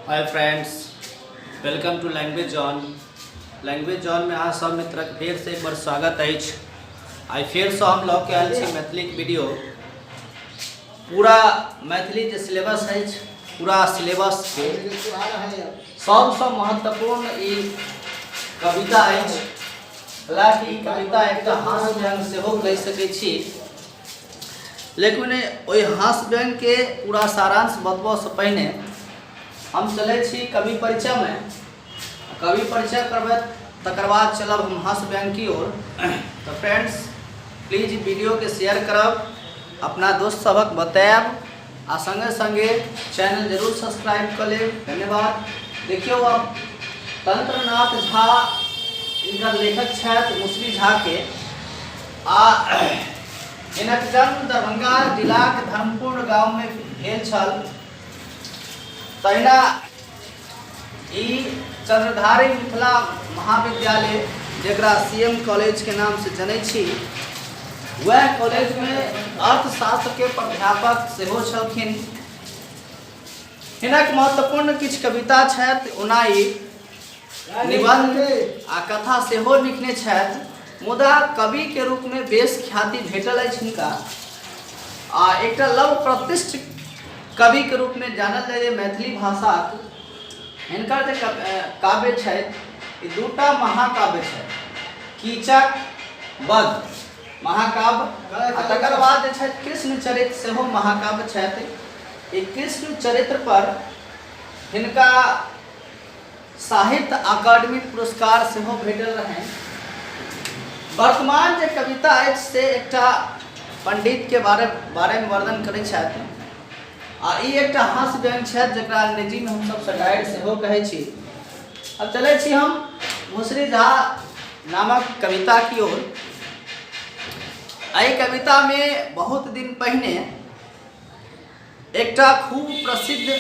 Hi friends welcome to language zone language zone में अहाँ सब मित्रक फेर से एक बार स्वागत अछि आइ फेर से हम लऽ के आयल छी मैथिलीक वीडियो पूरा मैथिली जे सिलेबस अछि पूरा सिलेबस के सबसँ महत्वपूर्ण ई कविता अछि हालांकि ई कविता एकटा हास्य व्यंग सेहो कहि सकैत छी लेकिन ओहि ओहि हास व्यंगके पूरा सारांश बतबऽसँ पहिने हम चलै छी कवि परिचयमे कवि परिचय करबै तकर बाद चलब हम हास व्यंग की ओर तऽ फ्रेंड्स प्लीज वीडियोके शेयर करब अपना दोस्त सभक बतायब आ संगे संगे चैनल जरूर सब्सक्राइब कर लेब धन्यवाद देखियो अब तंत्रनाथ झा इनका लेखक छथि मुसरी झा के आ इनक जन्म दरभंगा जिलाक धर्मपुर गांव में भेल छल तहिना ई चंद्रधारी मिथिला महाविद्यालय जकरा सी एम कॉलेजके नामसँ जनै छी वएह कॉलेजमे अर्थशास्त्रके प्राध्यापक सेहो छलखिन हिनक महत्वपूर्ण किछु कविता छथि ओना ई निबंध आ कथा सेहो लिखने छथि मुदा कवि के रूप में बेस ख्याति भेटल अछि हिनका आ एक लव प्रतिष्ठ कवि के रूप में जानल जाए मैथिली भाषा हिनकर जे काव्य है दूटा महाकाव्य है कीचक वध महाकाव्य तकर बाद कृष्ण चरित्र से महाकाव्य कृष्ण चरित्र पर हिनका साहित्य अकादमी पुरस्कार सेहो भेटल रहनि वर्तमान जे कविता अछि से एकटा पंडितके बारे बारेमे वर्णन करै छथि आ ई एकटा हास्य व्यंग छथि जकरा अंग्रेजीमे हमसभ सटायर सेहो कहै छी अब चलै छी हम मुसरी झा नामक कविता की ओर एहि कवितामे बहुत दिन पहिने एकटा खूब प्रसिद्ध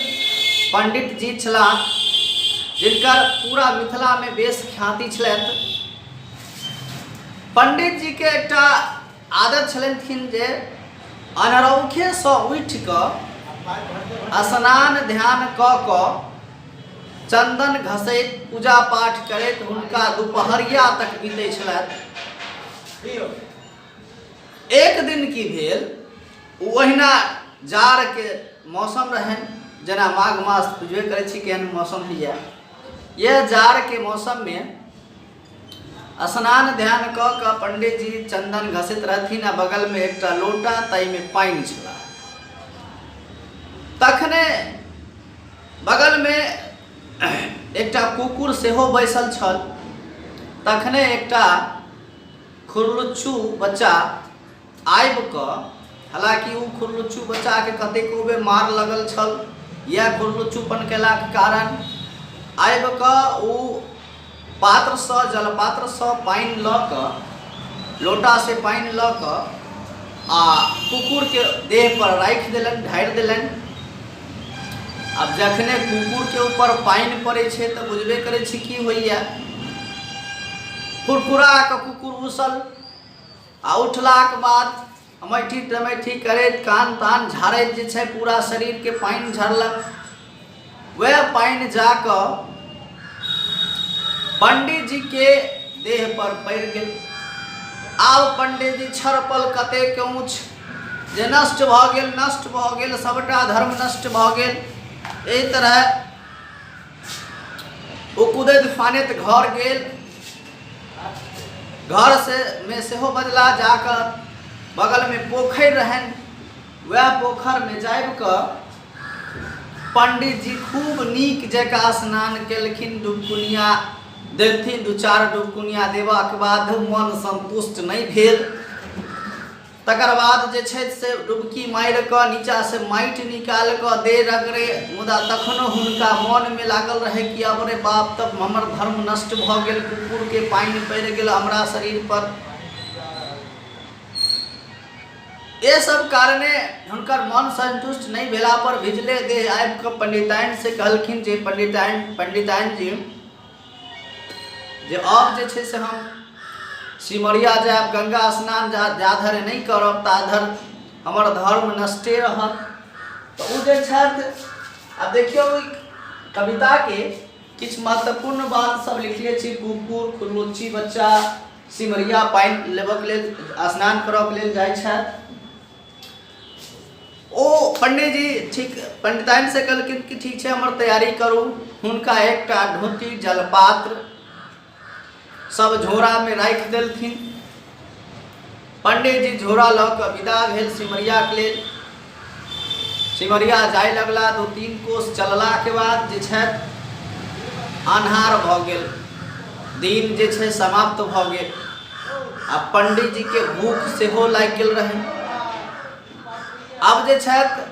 पंडित जी छलाह जिनकर पूरा मिथिला में बेस ख्याति छलैथ पंडित जी के एकटा आदत छलखिन जे अनरौखे से उठ क स्नान ध्यान क क चंदन घसैत पूजा पाठ करैत हुनका दुपहरिया तक बीते छलैथ एक दिन की भेल ओ ओहिना जाड़के मौसम रहनि जेना माघ मास बुझबे करै छी केहन मौसम होइए यह जाड़के मौसममे स्नान ध्यान कऽ कऽ पंडितजी चंदन घसैत रहथिन आ बगलमे एकटा लोटा ताहिमे पानि छला तखने बगलमे एकटा कुकुर सेहो बैसल छल तखने एकटा खुरलुच्चू बच्चा आबि कऽ हालाँकि ओ खुरलुच्चू बच्चाके कतेको बेर मार लगल छल इएह खुरलुच्चूपन कयलाक कारण आबि कऽ ओ पात्रसँ जलपात्रसँ पानि लऽ कऽ लोटासँ पानि लऽ कऽ आ कुकुरके देहपर राखि देलनि ढारि देलनि आब जखने कुकुरके ऊपर पानि पड़ै छै तऽ बुझबे करै छी की होइए फुरफुरा कऽ कुकुर उसल आ उठलाक बाद अमैठी तमैठी करैत कान तान झाड़ैत जे छै पूरा शरीरके पानि झड़लक वएह पानि जा कऽ पंडीजीके देह पर पड़ि गेल आब पंडीजी छड़पल कतेक ऊँच जे नष्ट भऽ गेल नष्ट भऽ गेल सभटा धर्म नष्ट भऽ गेल एहि तरह ओ कुदैत फानैत घर गेल घर से में सेहो बदला जाकर बगल में पोखरि रहन वह पोखर में जाब कऽ पंडित जी खूब नीक जकाँ स्नान केलखिन डुबकुनिया देलथिन दू चार डुबकुनिया देबाक बाद मन संतुष्ट नहीं भेल तकर बाद जे छथि से डुबकी मारि कऽ नीचाँसँ माटि निकालि कऽ दे रगड़े मुदा तखनो हुनका मोनमे लागल रहै कि अब रे बाप तब हमर धर्म नष्ट भऽ गेल कुकुरके पानि पड़ि गेल हमरा शरीरपर ये सब कारणे हुनकर मन संतुष्ट नहि भेला पर भिजले देह आबि कऽ पंडिताइन से कहलखिन जे पंडिताइन पंडिताइन जी जे अब जे छै से हम सिमरिया जायब गंगा स्नान जा जाधरि नहि करब ताधरि हमर धर्म नष्टे रहत तऽ ओ जे छथि आ देखियौ ओहि कविताके किछु महत्वपूर्ण बात सब लिखले छी कुकुर खुरमुच्ची बच्चा सिमरिया पानि लेबऽके लेल स्नान करऽके लेल जाइ छथि ओ पंडीजी ठीक पंडिताइन से कहलखिन कि ठीक छै हमर तैयारी करू हुनका एकटा ढोती जलपात्र सब झोरा में राख देलखिन पंडीजी झोरा लऽ कऽ विदा भेल सिमरिया के लेल सिमरिया जाय लगला दू तीन कोस चलला के बाद जे छै अन्हार भऽ गेल दिन जे छै समाप्त भऽ गेल आ पंडीजीके भूख सेहो लागि गेल रहै आब जे छथि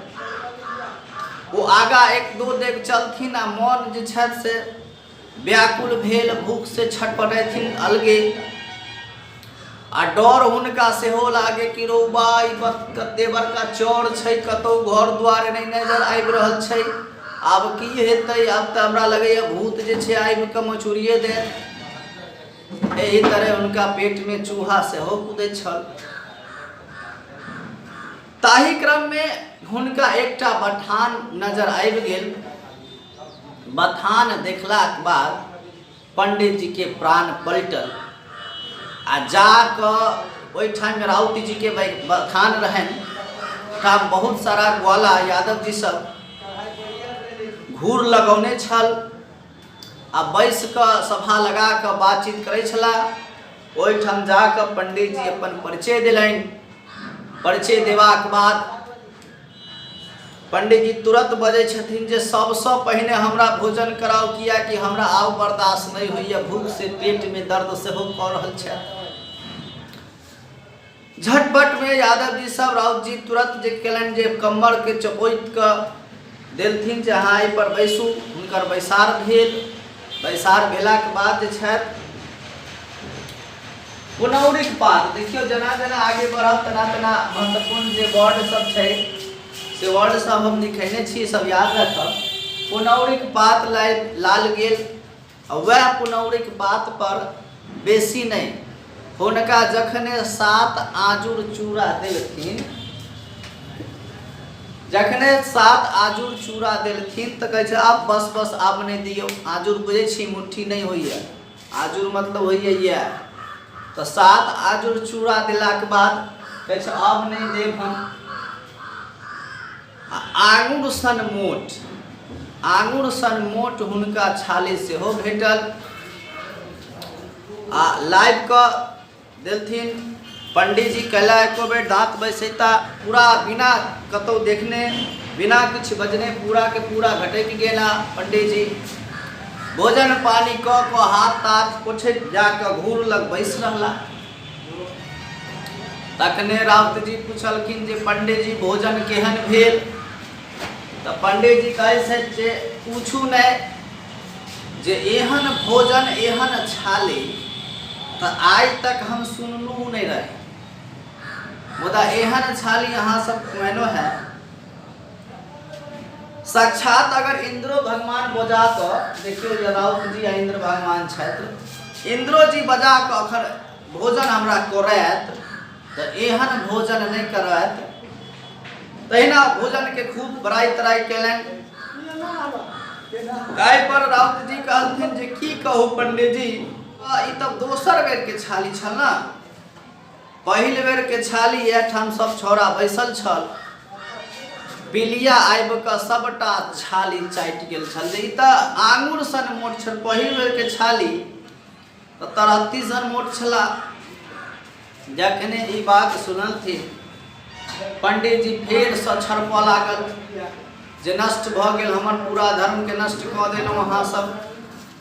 ओ आगाँ एक दो देव चलथिन आ मन जे छथि से व्याकुल भेल भूख से छटपटैथिन अलगे आ डर हुनका सेहो लागे कि रौबा ई कते बड़का चौर छै कतौ घर द्वार नहि नजर आबि रहल छै आब की हेतै आब तऽ हमरा लगैए भूत जे छै आबि कऽ मचुरिए देत एहि तरह हुनका पेटमे चूहा सेहो कुदैत छल ताहि क्रममे हुनका एकटा बथान नजर आबि गेल बथान देखलाक बाद पंडितजीके प्राण पलटल आ जा कऽ ओहिठाम राउतजीके बथान रहनि का बहुत सारा ग्वाला यादव जी सब घूर लगौने छल आ बैस कऽ सभा लगा कऽ बातचीत करै छलाह ओहिठाम जा कऽ पंडीजी अपन परिचय देलनि परिचय देबाक बाद पंडीजी तुरंत बजै छथिन जे सबसँ पहिने हमरा भोजन कराउ कियाकि हमरा आब बर्दाश्त नहि होइए भूख से पेट में दर्द सेहो कऽ रहल छथि झटपट मे यादव जी सब राउत जी तुरत जे केलनि जे कम्मर के चपोइत क देलथिन जे अहाँ एहि पर बैसू हुनकर बैसार भेल बैसार भेला के बाद जे छथि पुनौरिक पात देखियो जना जना आगे बढ़ब तना तना महत्वपूर्ण जे वर्ड सब छै से वर्ड सब हम लिखेने छी सब याद रखब पुनौरिक पात लाल गेल आ वएह पुनौरीक बात पर बेसी नहि। हुनका जखने सात आजुर चूड़ा देलखिन। जखने सात आजुर चूड़ा देलखिन तँ कहै छथि आब बस बस आब नहि दियौ। आजुर बुझै छी मुट्ठी नहि होइए। आजुर मतलब होइए इएह। तँ सात आजुर चूड़ा देलाक बाद कहै छथि आब नहि देब हम। आ आङुर सन मोट आङुर सन मोट हुनका छाले सेहो भेटल आ लाइव कऽ देलथिन पंडीजी कैला एको बेर दाँत बैसैता पूरा बिना कतौ देखने बिना किछु बजने पूरा के पूरा घटकि गेला पंडीजी भोजन पानी कऽ कऽ हाथ ताथ पोछैत जाकऽ घूर लग बैस रहला तखने राउतजी पुछलखिन जे पंडेजी भोजन केहन भेल तऽ पंडेजी कहै छथि जे पूछू नहि जे एहन भोजन एहन छाली तऽ आइ तक हम सुनलहुँ नहि रही मुदा एहन छाली अहाँ सब खुएनो है साक्षात अगर इंद्रो भगवान बजा कऽ देखियौ जे राउत जी आ इंद्र भगवान छथि इंद्रो जी बजा कऽ अखन भोजन हमरा करैत तऽ एहन भोजन नहि करैत तहिना भोजनके खूब बड़ाइ तड़ाइ केलनि एहि पर राउत जी कहलखिन जे की कहू पंडित जी ई तऽ दोसर बेरके छाली छल ने पहिल बेर के छाली एठाम सब छौड़ा बैसल छल बिलिया आबि कऽ सबटा छाली चाटि गेल छल जे ई तऽ आंगुर सन मोट छल पहिल बेर के छाली तऽ तरहत्ती सन मोट छला जखने ई बात सुनलथिन पंडितजी फेर सँ छड़पऽ लागल जे नष्ट भऽ गेल हमर पूरा धर्मके नष्ट कऽ देलहुँ अहाँ सब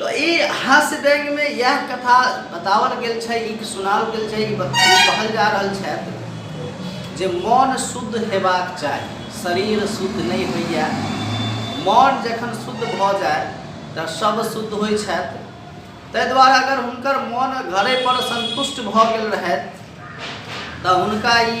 तो ई हास्य व्यंग में यह कथा बतावल गेल छै ई सुनावल गेल छै ई बत- ई कहल जा रहल छथि जे मन शुद्ध हेबाक चाही शरीर शुद्ध नहि होइए मन जखन शुद्ध भऽ जाय तऽ सब शुद्ध होइ छथि ताहि दुआरे अगर हुनकर मन घरेपर सन्तुष्ट भऽ गेल रहथि तऽ हुनका ई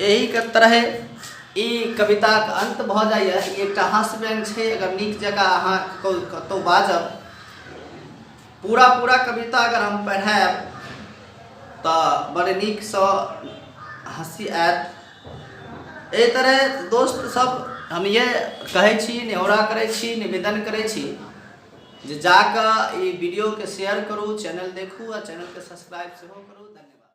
एहि के तरहे ई कविताक अंत भऽ जाइए ई एकटा हास्य व्यंग छै अगर नीक जकाँ अहाँ कतहु बाजब पूरा पूरा कविता अगर हम पढ़ायब तऽ बड़ नीकसँ हँसी आयत एहि तरहे दोस्त सब हम ये कहै छी नेहरा करै छी निवेदन करै छी जे जाकऽ ई वीडियोके शेयर करू चैनल देखू आ चैनलके सब्सक्राइब सेहो करू धन्यवाद